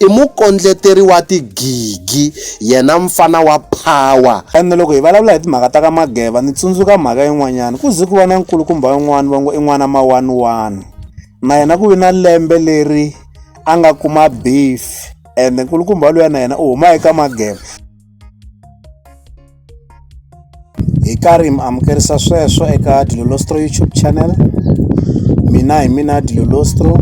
I mukondleteri wa tigigi yena mfana wa power. And loko hi vulavula hi timhaka ta ka Mageva ni tsundzuka mhaka yin'wanyana ku ze ku va na nkulukumba un'wana va ngo i n'wana ma one one na yena ku vi na lembe leri a nga kuma beef and nkulukumba luya na yena u huma eka Mageva. hi karhi mi amukerisa sweswo eka dilolostro youtube channel mina hi mina dilolostro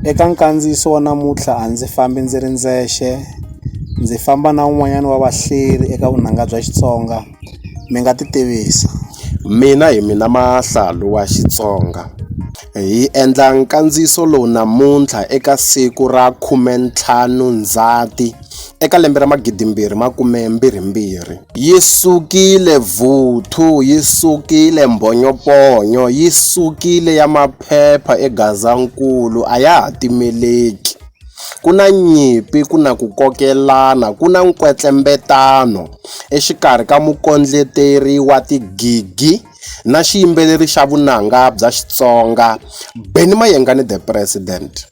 eka nkandziyiso wa namuntlha a ndzi fambi ndzi ri ndzexe ndzi famba na un'wanyana wa vahleri eka vunanga bya xitsonga mi nga ti tivisa mina hi mina mahlalu wa xitsonga hi endla nkandziyiso lowu namuntlha eka siku ra khumentlhanu ndzhati Eka lembe ra magidimbirhi makume mbirhimbirhi, yi sukile vuthu, yi sukile mbhonyoponyo, yi sukile ya maphepha eGazankulu, a ya ha timeleki. Ku na nyimpi, ku na ku kokelana, ku na nkwetlembetano exikarhi ka mukondleteri wa tigigi na xiyimbeleri xa vunanga bya Xitsonga, Benny Mayengani The President.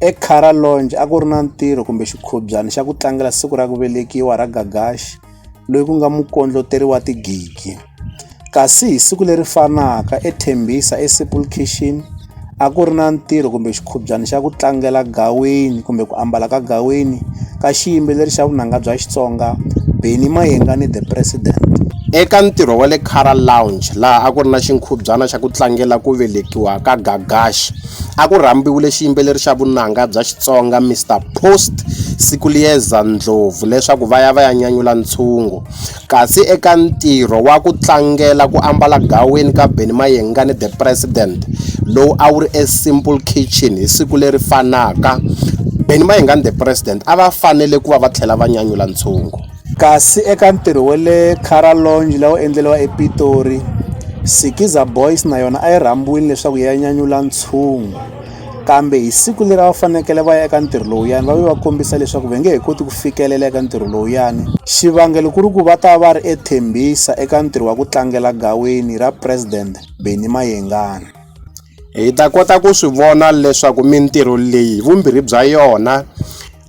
Ekara Lounge a ku ri na ntirho kumbe xikhobyana xa ku tlangela siku ra ku velekiwa ra Gagashi loyi ku nga mukondloteri wa tigigi. Kasi hi siku leri fanaka eTembisa eSimple Kitchen a ku ri na ntirho kumbe xikhobyana xa ku tlangela gaweni kumbe ku ambala ka gaweni ka xiyimbeleri xa vunanga bya Xitsonga Benny Mayengani The President. Eka ntirho wa le Cara Lounge laha a ku ri na xinkhubyana xa ku tlangela ku velekiwa ka Gagashi, A ku rhambiwile xiyimbeleri xa vunanga bya Xitsonga Mister Post Sikuliyeza Ndlovu leswaku va ya va ya nyanyula ntshungu. Kasi eka ntirho wa ku tlangela ku ambala gaweni ka Benny Mayengani The President lowu a wu ri eSimple Kitchen hi siku leri fanaka, Benny Mayengani The President a va fanele ku va va tlhela va nyanyula ntshungu. Kasi eka ntirho wa le Cara Lounge la wu endleriwa ePitori, Sikizza Boys na yona a yi rhambiwile leswaku yi ya nyanyula ntshungu. Kambe hi siku leri a va fanekele va ya eka ntirho lowuyani va ve va kombisa leswaku va nge he koti ku fikelela eka ntirho lowuyani. Xivangelo ku ri ku va ta va ri eThembisa eka ntirho wa ku tlangela gaweni ra President Benny Mayengani. Hi ta kota ku swi vona leswaku mintirho leyi vumbirhi bya yona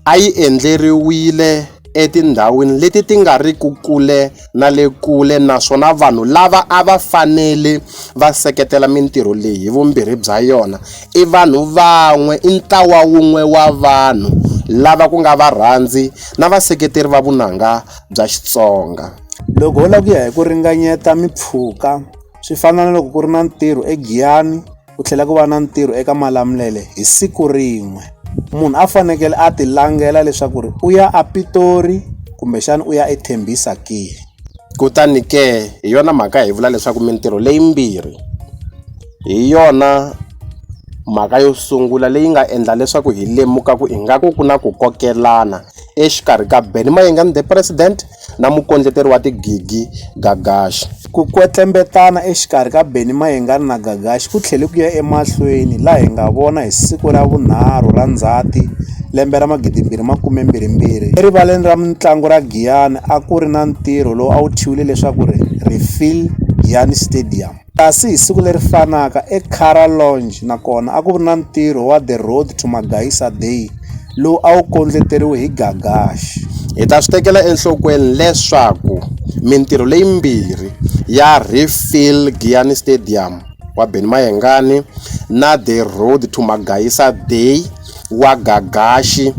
a yi endleriwile etindhawini leti ti nga ri ku kule na le kule naswona vanhu lava a va fanele va seketela mintirho leyi hi vumbirhi bya yona i vanhu van'we i ntlawa wun'we wa vanhu lava ku nga varhandzi na vaseketeri va vunanga bya Xitsonga loko ho lava ku ya hi ku ringanyeta mimpfhuka swi fana na loko ku ri na ntirho egiyani ku tlhela ku va na ntirho eka malamulele hi siku rin'we munhu a fanekele a ti langela leswaku ri u ya a pitori kumbexana u ya ethembisa ke kutani ke hi yona mhaka hi vula leswaku mintirho leyimbirhi hi yona mhaka yo sungula leyi nga endla leswaku hi lemuka ku ingaku ku na ku kokelana exikarhi ka benny mayenga ni the president na mukondleteri wa tigigi Gagashi. Ku kwetlembetana exikarhi ka Benny Mayengani na Gagashi ku tlhele ku ya emahlweni laha hi nga vona hi siku ra vunharhu ra Ndzhati lembe ra 2022 erivaleni ra mintlangu ra Giyani a ku ri na ntirho lowu a wu thyiwile leswaku ri Phil Giyani Stadium. Kasi hi siku leri fanaka, eCara Lounge na kona a ku ri na ntirho wa The Road to Magaisa Day lowu a wu kondleteriwe hi Gagashi. Hi ta swi tekela enhlokweni leswaku mintirho leyimbirhi ya Refill Giyani Stadium wa Benny Mayengani na The Road to Magaisa Day, wa Gagaxi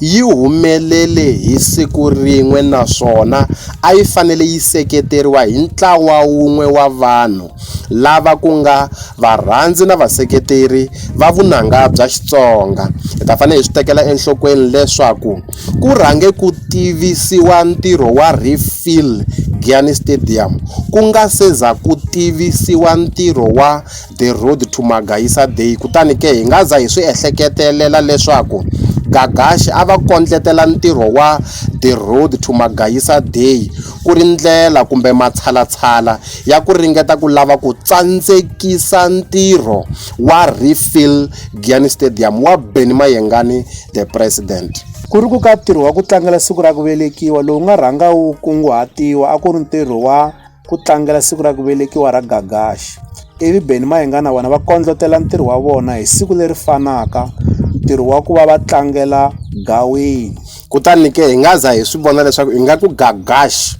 yi humelele hi siku rin'we naswona a yi fanele yi seketeriwa hi ntlawa wun'we wa vanhu lava ku nga varhandzi na vaseketeri va vunanga bya Xitsonga. Hi ta fanele hi swi tekela enhlokweni leswaku ku rhange ku tivisiwa ntirho wa Reef Fill Gianni Stadium ku nga se za ku tivisiwa ntirho wa The Road to Magaisa Day kutani ke hi nga za hi swi ehleketelela leswaku Gagashi a va kondletela ntirho wa The Road to Magaisa Day ku ri ndlela kumbe matshalatshala ya ku ringeta ku lava ku tsandzekisa ntirho wa Refill Giyani Stadium wa Benny Mayengani The President. Ku ri ku ka ntirho wa ku tlangela siku ra ku velekiwa lowu nga rhanga wu kunguhatiwa a ku ri ntirho wa. ku tlangela siku ra ku velekiwa ra Gagashi. Ivi Benny Mahinga na vona va kondlotela ntirho wa vona hi siku leri fanaka ntirho wa ku va va tlangela gawini kutani ke hi nga za hi swi vona leswaku ingaku Gagashi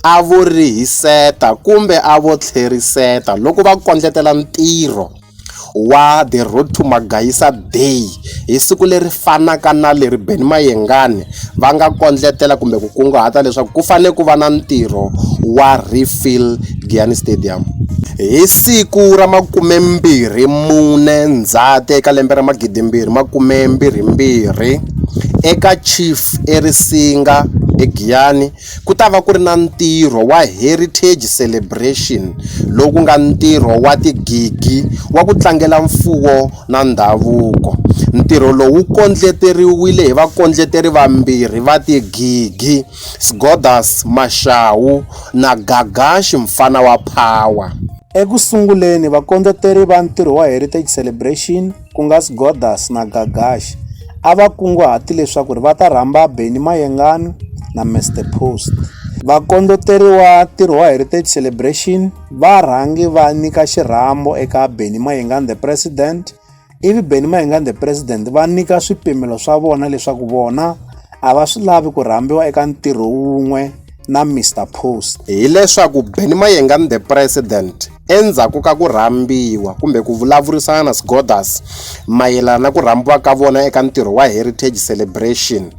a vo rihiseta kumbe a vo tlheriseta loko va kondletela ntirho wa The Road to Magayisa Bay hi siku leri fanaka na leri Benny Mayengani va nga kondletela kumbe ku kunguhata leswaku ku fanele ku va na ntirho wa refill Giyani Stadium hi siku ra makumembirhi mune Ndzhati eka lembe ra magidimbirhi makumembirhi mbirhi eka Chief eRisinga eGiyani. ku ta va ku ri na ntirho wa Heritage Celebration lowu ku nga ntirho wa tigigi wa ku tlangela mfuwo na ndhavuko. Ntirho lowu wu kondleteriwile hi vakondleteri vambirhi va tigigi, Sgodas Mashau na Gagashi Mfana wa Power. Eku sunguleni, vakondleteri va ntirho wa Heritage Celebration, ku nga Sgodas na Gagash, a va kunguhate leswaku va ta rhamba Benny Mayengani na Mister Post. Vakondloteri wa ntirho wa Heritage Celebration va rhange va nyika xirhambo eka Benny Mayengani the President, ivi Benny Mayengani the President va nyika swipimelo swa vona leswaku vona a va swi lavi ku rhambiwa eka ntirho wun'we na Mister Post. Hi leswaku Benny Mayengani the President Endzhaku ka ku rhambiwa kumbe ku vulavurisana na Sgothers mayelana na ku rhambiwa ka vona eka ntirho wa Heritage Celebration,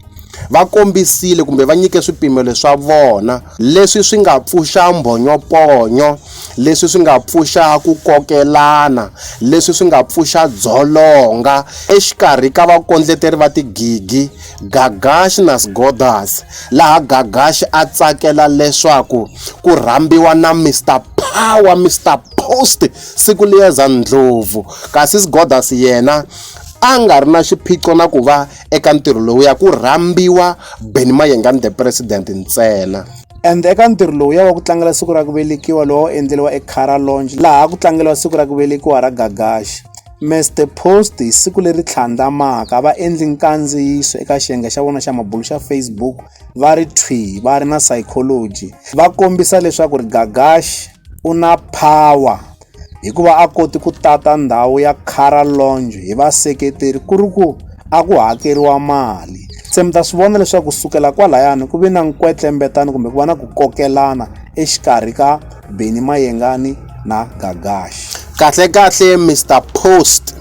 va kombisile kumbe va nyike swipimelo swa vona leswi swi nga pfuxa mbhonyoponyo, leswi swi nga pfuxa ku kokelana, leswi swi nga pfuxa dzolonga exikarhi ka vakondleteri va tigigi. Gagash na Sgothers, laha Gagash a tsakela leswaku ku rhambiwa na Mister Power, Mister Post, siku liyeza ndlopfu, kasi Sgothers yena a nga ri na xiphiqo na ku va eka ntirho lowuya, ku rhambiwa Benny Mayengani the President ntsena. And eka ntirho lowuya wa ku tlangela siku ra ku velekiwa lowu a wu endleriwa eCara Lounge laha ku tlangeriwa siku ra ku velekiwa ra Gagash. Mrc Post hi siku leri tlhandlamaka va endli nkandziyiso eka xiyenge xa vona xa mabulo xa Facebook va ri thwi va ri na psychology va kombisa leswaku ri Gagash u na power hikuva a koti ku tata ndhawu ya Cara Lounge hi vaseketeri ku ri ku a ku hakeriwa mali se mi ta swi vona leswaku kusukela kwalayani ku ve na nkwetlembetano kumbe ku va na ku kokelana exikarhi ka Benny Mayengani na Gagash. Kahle-kahle Mister Post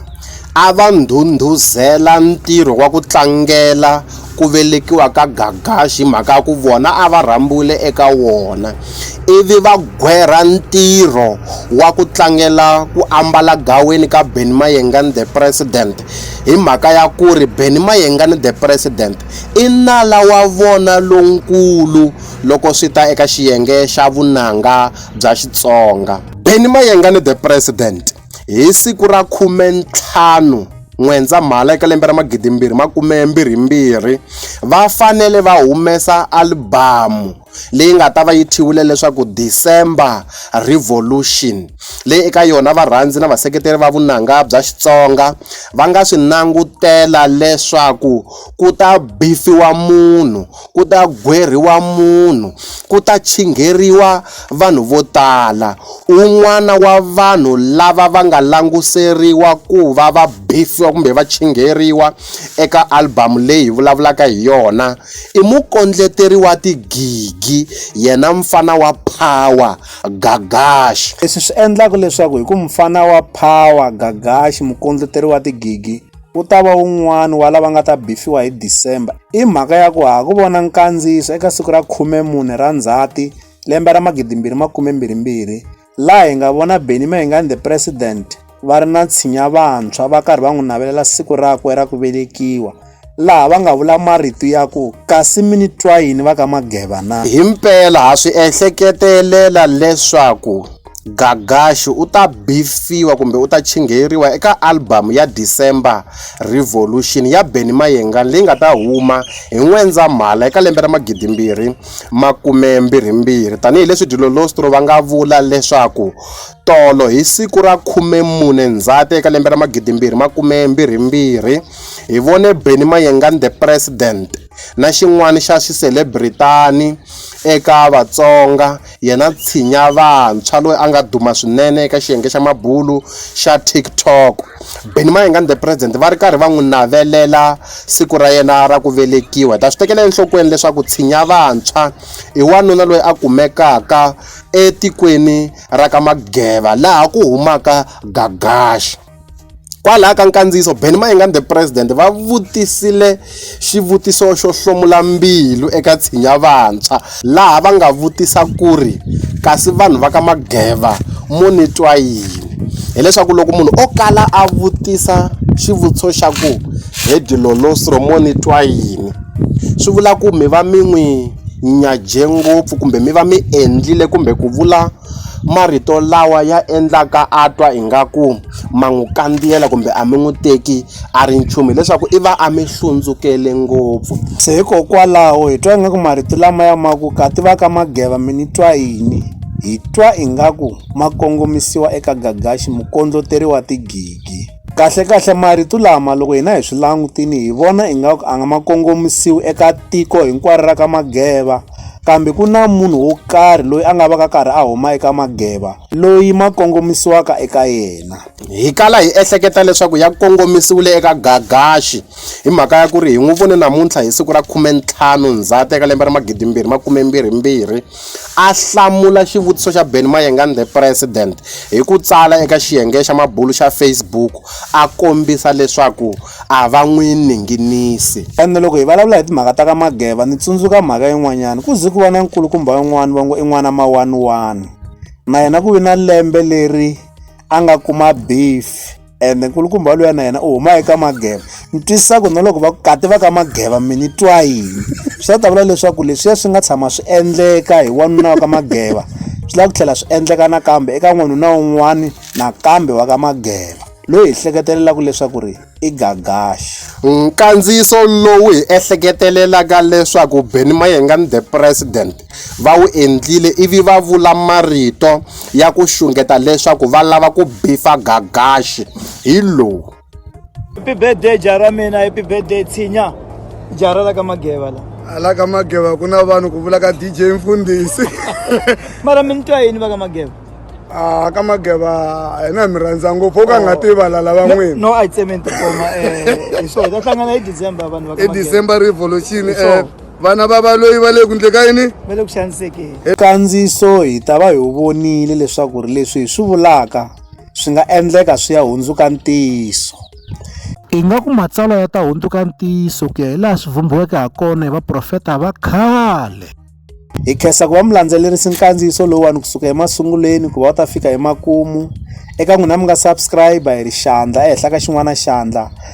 a va ndhundhuzela ntirho wa ku tlangela ku velekiwa ka Gagash hi mhaka ya ku vona a va rhambiwile eka wona ivi va gwerha ntirho wa ku tlangela ku ambala gaweni ka Benny Mayengani the President hi mhaka ya ku ri Benny Mayengani the President i nala wa vona lonkulu loko swi ta eka xiyenge xa vunanga bya Xitsonga. Benny Mayengani The President hi siku ra 15 N'wendzamhala eka lembe ra 2022 va fanele va humesa alibamu leyi nga ta va yi thyiwile leswaku December Revolution, leyi eka yona varhandzi na vaseketeri va vunanga bya Xitsonga va nga swi langutela leswaku ku ta bifiwa munhu, ku ta gwerhiwa munhu, ku ta chingheriwa vanhu vo tala. Un'wana wa vanhu lava va nga languseriwa ku va va bifiwa kumbe va chingheriwa eka album leyi hi vulavulaka hi yona I mukondleteri wa tigigi yena mfana wa power gagash leswi swi endlaka leswaku hi ku mfana wa power gagash mukondleteri wa tigigi u ta va wun'wani wa lava nga ta bifiwa hi december i mhaka ya ku ha ku vona nkandziyiso eka siku ra 14 ra ndzhati lembe ra 2022 laha hi nga vona Benny Mayengani the president va ri na tshinya vantshwa va karhi va n'wi navelela siku rakwe ra ku velekiwa laha va nga vula marito ya ku kasi mi ni twa yini va ka mageva na hi mpela ha swi ehleketelela leswaku gagaxi u ta bifiwa kumbe u ta chingheriwa eka albhamu ya december revolution ya benny mayengani leyi nga ta huma hi n'wendzamhala eka lembe ra magidimbirhi makume-mbirhi-mbirhi, tani hi leswi Dilolostro va nga vula leswaku tolo hi siku ra khume-mune Ndzhati eka lembe ra magidi-mbirhi makume-mbirhi-mbirhi, hi vone Benny Mayengani The President na xin'wana xa xiselebritani eka Vatsonga, yena tshinya vantshwa loyi a nga duma swinene eka xiyenge xa mabulu xa TikTok. Benny Mayengani The President va ri karhi va n'wi navelela siku ra yena ra ku velekiwa hi ta swi tekela enhlokweni leswaku tshinya vantshwa i wanuna loyi a kumekaka etikweni ra ka mageva laha ku humaka gagaxa kwalaha ka nkandziyiso beni mayingani the president va vutisile xivutiso xo hlomula mbilu eka tshinya vantshwa laha va nga vutisa ku ri kasi vanhu va ka mageva mo ni twa yini hileswaku loko munhu o kala a vutisa xivutiso xa ku he dilolostro mo ni twa yini swi vula ku mi va mi n'wi nyaje ngopfu kumbe mi va mi endlile kumbe ku vula marito lawa ya endlaka a twa ingaku ma n'wi kandziyela kumbe a mi n'wi teki a ri nchumu hileswaku i va a mi hlundzukele ngopfu se hikokwalaho hi twa ingaku marito lama ya ma ku ka ti va ka mageva mi ni twa yini hi twa ingaku ma kongomisiwa eka gagaxi mukondloteriwa tigigi kahle kahle marito lama loko hina hi swi langutini hi vona ingaku a nga ma kongomisiwi eka tiko hinkwaro ra ka mageva kambe ku na munhu wo karhi loyi a nga va ka karhi a huma eka mageva loyi ma kongomisiwaka eka yena hi kala hi ehleketa leswaku ya kongomisiwile eka gagaxi hi mhaka ya ku ri hi n'wi vone namuntlha hi siku ra khumentlhanu ndzhati eka lembe ra magidimbirhi makumembirhimbirhi a hlamula xivutiso xa Ben Mayengani the President hi ku tsala eka xiyenge xa mabulu xa Facebook a kombisa leswaku a va n'wi ninginisi. Ene loko hi vulavula hi timhaka ta ka Mageva ni tsundzuka mhaka yin'wanyana, ku ze ku va na nkulukumba un'wana va ngo i n'wana mawaniwani, na yena ku vi na lembe leri a nga kuma beef. ende nkulukumba waloya na yena u huma eka mageva ni twisisa ku na loko va kati va ka mageva mi ni twa yini swi ta ta vula leswaku leswiya swi nga tshama swi endleka hi wanuna wa ka mageva swi lava ku tlhela swi endleka nakambe eka n'wanuna wun'wani nakambe wa ka mageva loyi hi hleketelelaka leswaku ri i gagaxi nkandziyiso lowu hi ehleketelelaka leswaku beni mayenga ni the president va wu endlile ivi va vula marito ya ku xungeta leswaku va lava ku bifa gagaxi hi lowu happy birthday ja ra mina happy birthday tshinya ja ra la ka mageva la hala ka mageva ku na vanhu ku vula ka dj mfundhisi mara mi ni twa yini va ka mageva Ah, ka mageva hina mi rhandza ngopfu u ka nga oh. tivala lava n'wini no i cement koma eh so ta hlangana hi december vanhu va ka i december revolution eh vana va valoyi va le ku ndle ka yini va le ku xanisekeni kandziso hi ta va hi wu vonile leswaku ri leswi hi swi vulaka swi nga endleka swi ya hundzuka ntiyiso ingaku matsalwa ya ta hundzuka ntiyiso ku ya hi laha swi vhumbiweke ha kona hi vaprofeta va khale hi khensa ku va mi landzelerisi nkandziyiso lowuwani kusuka emasungulweni ku va u ta fika emakumu eka n'wina mi nga subscribe hi ri xandla ehenhla ka xin'wana xandla